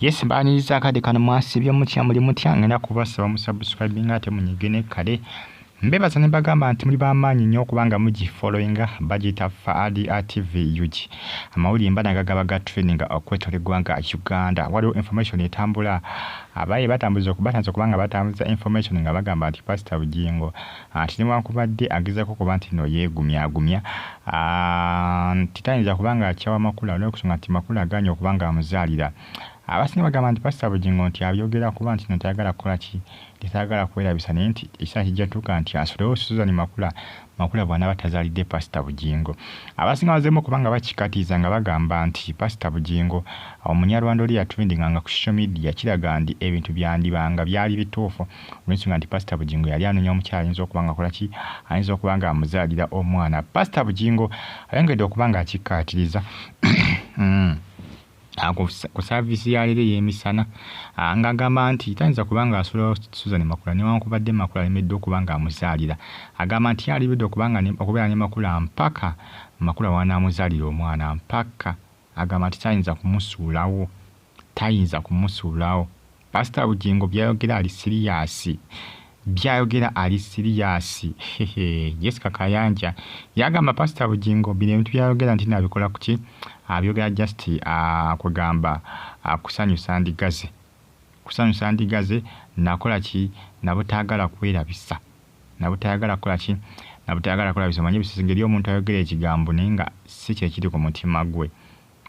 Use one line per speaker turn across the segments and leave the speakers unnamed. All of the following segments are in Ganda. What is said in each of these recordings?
Yes mbaniriza akade kano mwasibye mutya muli mutya ngenda kubasaba musubscribing ate munyige ne kale mbebaza ne bagamba nti muli bamaanyi nnyo kubanga mugi following bagiyita faadi atv ug amawulire mba naga gaba ga training okwetoola eggwanga uganda waliwo information etambula abaye batambuza okubatanza kubanga batambuza information nga bagamba nti pasita bugingo Anti newankubadde agezaako okuba nti no yeegumyagumya nti tayinza kuba nga akyawa Makula olw'okusonga nti Makula agaanye okuba nga amuzaalira. Abasinga bagamba nti Pasita Bugingo nti abyogera kuba nti no tayagala kukola ki? Nti tayagala kwerabisa naye nti ekiseera kijja tuuka nti asulewo Suzan Makula, Makula bwanaaba tazaalidde Pasita Bugingo. Abasinga bazeemu okuba nga bakikatiiza nga bagamba nti Pasita Bugingo omunyarwanda oli eyatrendinganga ku social media kiraga ndi ebintu byandiba nga byali bituufu. olwensonga nti pasita bugingo yali anonya omukyala ayinza okuba nga akolaki ayinza okuba nga amuzaalira omwana pasita bugingo ayongedde okuba nga akikkaatiriza hmm. ah, ku saaviisi ya leero ey'emisana ah, ng'agamba nti tayinza kuba nga asulawo susan makula newankubadde makula alemeddwa okuba nga amuzaalira agamba nti yalibidde okubeera ne makula mpaka makula wanaamuzaalira omwana mpaka agamba nti tayinza kumusuulawo tayinza kumusuulawo Pastor Bugingo byayogera ali siriyaasi byayogera ali siriyaasi Jessica Kayanja yagamba Pastor Bugingo bino ebintu byayogera nti nabikola kuki abyogera just uh, kugamba uh, kusanyusa ndigaze kusanyusa ndigaze nakola ki nabutagala kwerabisa nabutayagala kukola ki nabutayagala kukola bisomanye bisizingeri omuntu ayogera ekigambo naye nga si kyekiri ku mutima gwe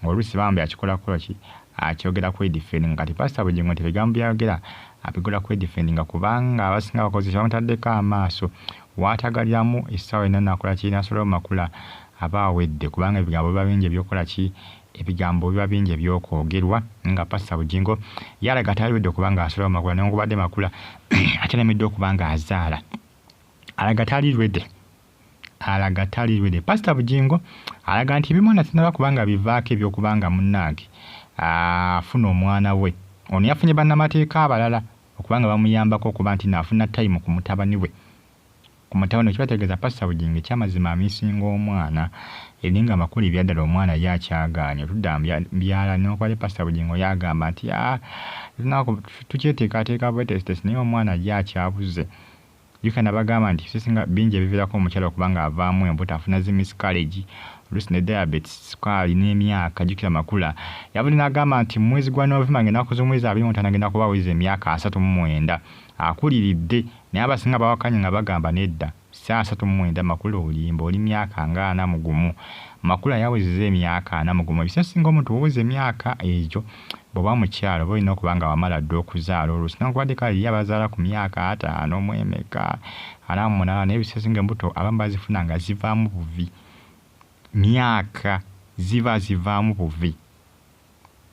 Olusi bambi akikola kuloki akyogera kwe defendinga kati pastor Bugingo nti ebigambo byayogera abigula kwe defendinga kubanga abasinga abakozi tebamutaddeko amaaso watagaliramu essaawa yonna nakola ki nasulawo mu makula aba awedde kubanga ebigambo biba bingi ebyokola ki ebigambo biba bingi ebyokwogerwa nga pastor Bugingo yalaga tayawedde kubanga asulawo makula newankubadde makula akyalemeddwa okubanga azaala alaga tali ready alaga tali lwede pasita bugingo alaga nti ebimwana sinaba kubanga bivaako ebyokubanga munnange afuna omwana we ono yafunye bannamateeka abalala okubanga bamuyambako okuba nti naafuna tayimu ku mutabani we ku mutabani we kibategeeza pasita bugingo ekyamazima amisinga omwana eri nga amakulu ebyaddala omwana ye akyagaanye otudda mbyala nokwali pasita bugingo yagamba nti ah, tukyeteekateeka bwetesitesi naye omwana ye akyabuze Jjuuko nabagamba nti ebisesinga bingi ebivirako omukyala okuba nga avaamu embuto afuna zi miscarriage oluusi ne diabetes, sukaali n'emyaka jjukira makula. Yavudde nagamba nti mu mwezi gwa November nga enaku z'omwezi abiri mu mutaano agenda kuba aweza emyaka asatu mu mwenda akuliridde naye abasinga bawakanya nga bagamba nedda si asatu mu mwenda makula olimba oli myaka nga ana mu gumu makula yawezeza emyaka ana mu gumu ebisesinga omuntu woweza emyaka egyo Bwoba mukyala oba olina okuba nga wamala dda okuzaala oluusi newankubadde kale eriyo abazaala ku myaka ataano mu emeka ana mu munaana naye ebiseera ebisinga embuto abamu bazifuna nga zivaamu buvi myaka ziba zivaamu buvi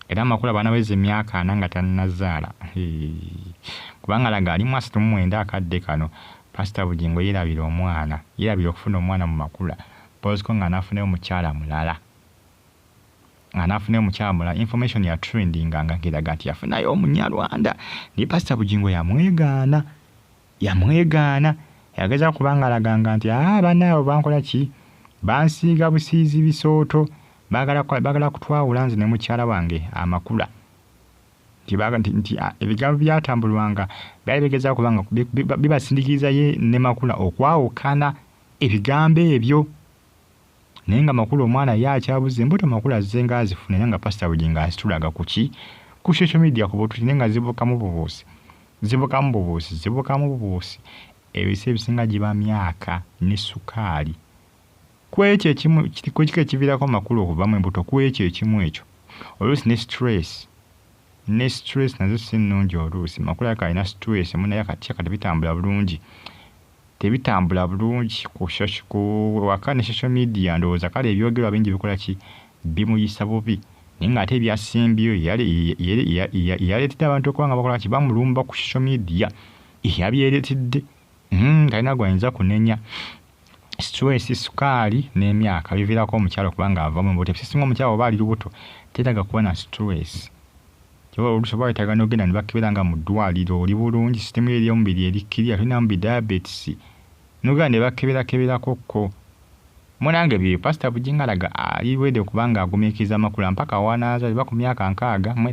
era amakulu abaana baweza emyaka ana nga tannazaala kubanga laga ali mwasatu mu mwenda akadde kano pasita bugingo yeerabira omwana yeerabira okufuna omwana mu makula poziko nga anaafunayo mukyala mulala nga nafuna omukyamula information ya trendinga nga ngiraga nti yafunayo omunyarwanda naye pasita bugingo yamwegaana yamwegaana yageza kubanga alaganga nti aa banaabo bankola ki bansiiga busiizi bisooto bagala kutwawula nze ne mukyala wange amakula nti ebigambo byatambulwanga byali bigeza kubanga bibasindikiriza ye ne makula okwawukana ebigambo ebyo naye nga makulu omwana ye akyabuze mbuto makulu azze nga azifuna era nga pasita bugingo azitulaga kuki ku social media ku bututi naye nga zibukamu bubuusi zibukamu bubuusi zibukamu bubuusi ebisa ebisinga giba myaka ne sukaali kwekyo ekimu kiko ekivirako makulu okuvamu embuto kwekyo ekimu ekyo oluusi ne stress ne stress nazo si nnungi oluusi makulu yaka alina stress munaye akatya kati bitambula bulungi tebitambula bulungi ku social ku waka ne social media ndowooza kale ebyogerwa bingi bikola ki bimuyisa bubi naye nga ate ebyasimbyo yaleetedde abantu okuba nga bakola ki bamulumba ku social media yabyeretedde hmm, talina gwayinza kunenya stress sukaali n'emyaka biviirako omukyalo kubanga ava mu buto ebisisinga omukyalo oba ali lubuto tetaga kuba na stress Kyoba olusi oba wetaga nogenda nebakebera nga mudwaliro oli bulungi system yo eyomubiri eri clear tolinamu bi diabetes nogenda nebakebera keberako ko munange byeyo pastor bujingo alaga ali ready okuba nga agumikiriza amakula mpaka wanazalibwa kumyaka nkaaga mwera.